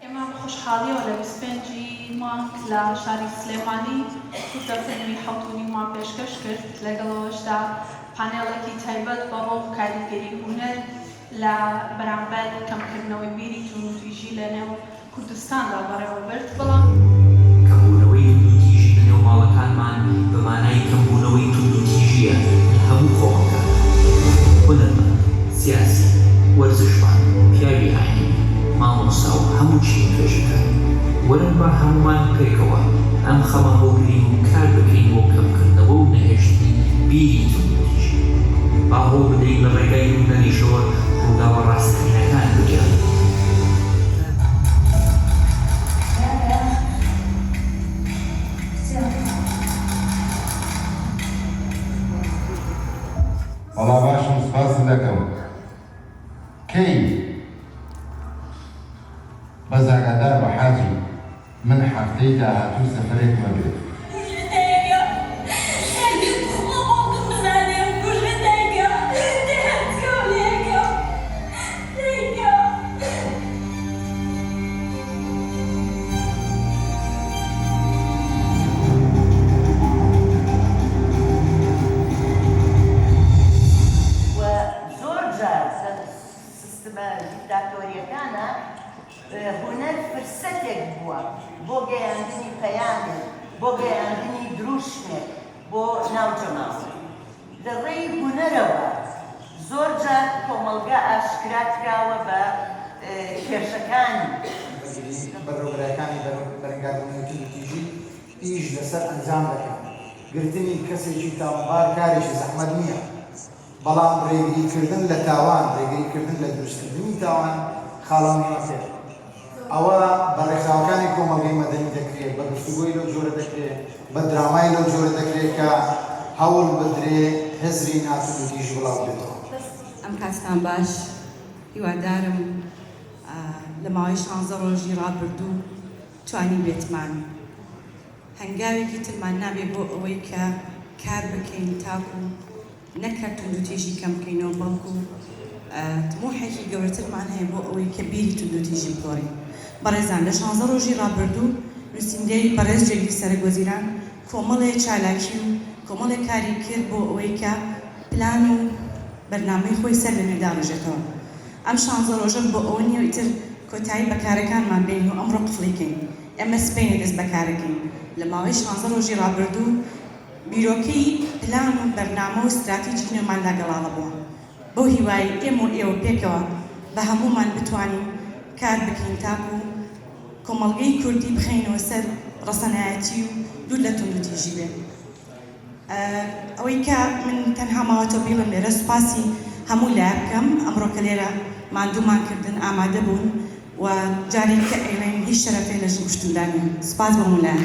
ئێمە بە خۆشحاڵییەوە لە بیست و پێنج ی مانگ لە شاری سلێمانی کورتە فیلمی حەوت و نیومان پێشکەش کرد، لەگەڵ ئەوەشدا پانێڵێکی تایبەت بە ڕۆڵ و کاریگەری هونەر لە بەرامبەر کەمکردنەوەی بیری توندوتیژی لە نێو کوردستاندا بەڕێوە برد، بەڵام. کەمبوونەوەی توندوتیژی لە نێو ماڵەکانمان بە مانای کەمبوونەوەی توندوتیژییە لە هەموو کۆمەڵگاکان، هونەرمەند، سیاسی، وەرزشوان، پیاوی ئاینی، مامۆستا و هەموو چینکەژەکان وەرن با هەموومان پێکەوە ئەم خەمە هەڵگرین و کار بکەین بۆ کەمکردنەوە و نەهێشتنی بیری توندوتیژی. با هەوڵ بدەین لە ڕێگای نووسەریشەوە ڕووداوە ڕاستەقینەکان بگێڕین. کەیت بەس ئاگادار بە حاجی من حەفتەی داهاتوو سەفەرێک مەبێ. زۆر جار سستمە دیکتاتۆریەکانە هونەر فرسەتێک بووە بۆ گەیاندنی پەیامێک بۆ گەیاندنی دروشمێک بۆ ناو جەماوەر لە ڕێی هونەرەوە زۆر جار کۆمەڵگا ئاشکرا کراوە بە کێشەکانی بەرەبەرەکانی بەرەنگاربوونەوەی توندوتیژی ئیش لەسەر ئەنجام دەکەن گرتنی کەسێکی تاوانبار کارێکی زەحمەت نییە بەڵام ڕێگریکردن لە تاوان، ڕێگریکردن لە دروستکردنی تاوان خاڵە مهمەکەیە. ئەوە بە ڕێکخراوەکانی کۆمەڵگەی مەدەنی دەکرێ، بە گفتوگۆی لەو جۆرە دەکرێ، بە درامای لەو جۆرە دەکرێ کە هەوڵ بدرێ هزری ناتوندوتیژی بڵاوبێتەوە. ئەم کاتتان باش، هیوادارم لە ماوەی شانزە ڕۆژی ڕابردوو توانیبێتمان هەنگاوێکی ترمان نابێت بۆ ئەوەی کە کار بکەین تاکو نەکە توندوتیژی کەم بکەینەوە بەڵکو تموحێکی گەورەترمان هەیە بۆ ئەوەی کە بیری توندوتیژی بگۆرین بەڕێزان لە شانزە ڕۆژی ڕابردو نوسینگەی بەڕێز جێگری سەرەک وەزیران کۆمەڵێ چالاکی و کۆمەڵێ کاری کرد بۆ ئەوەی کە پلان و بەرنامەی خۆی سەر لەنوێ داڕێژێتەوە ئەم شانزە ڕۆژە بۆ ئەوە نیە ئیتر کۆتایی بە کارەکانمان بێنین و ئەمڕۆ قفڵی کەین. ئێمە سبەینێ دەست بەکارەکەین، لە ماوەی شانزە ڕۆژی ڕابردوو بیرۆکەی پلان و بەرنامە و ستراتیجی نوێماندا گەڵاڵە بووە، بەو هیوایەی ئێمە و ئێوە پێکەوە بە هەموومان بتوانین کار بکەین تاکوو کۆمەڵگەی کوردی بخەینەوە سەر ڕەسەنایەتی و دوور لە توندوتیژی بێت. ئەوەی کە من تەنها ماوەتەوە بیڵێم لێرە سوپاسی هەموو لایە بکەم ئەمڕۆ کە لێرە ماندوومان کردن ئامادە بوون و جارێک کە ئەیڵێن هیچ شەرەفێ لە ژن کوشتندا نییە سوپاس بۆ هەموو لایە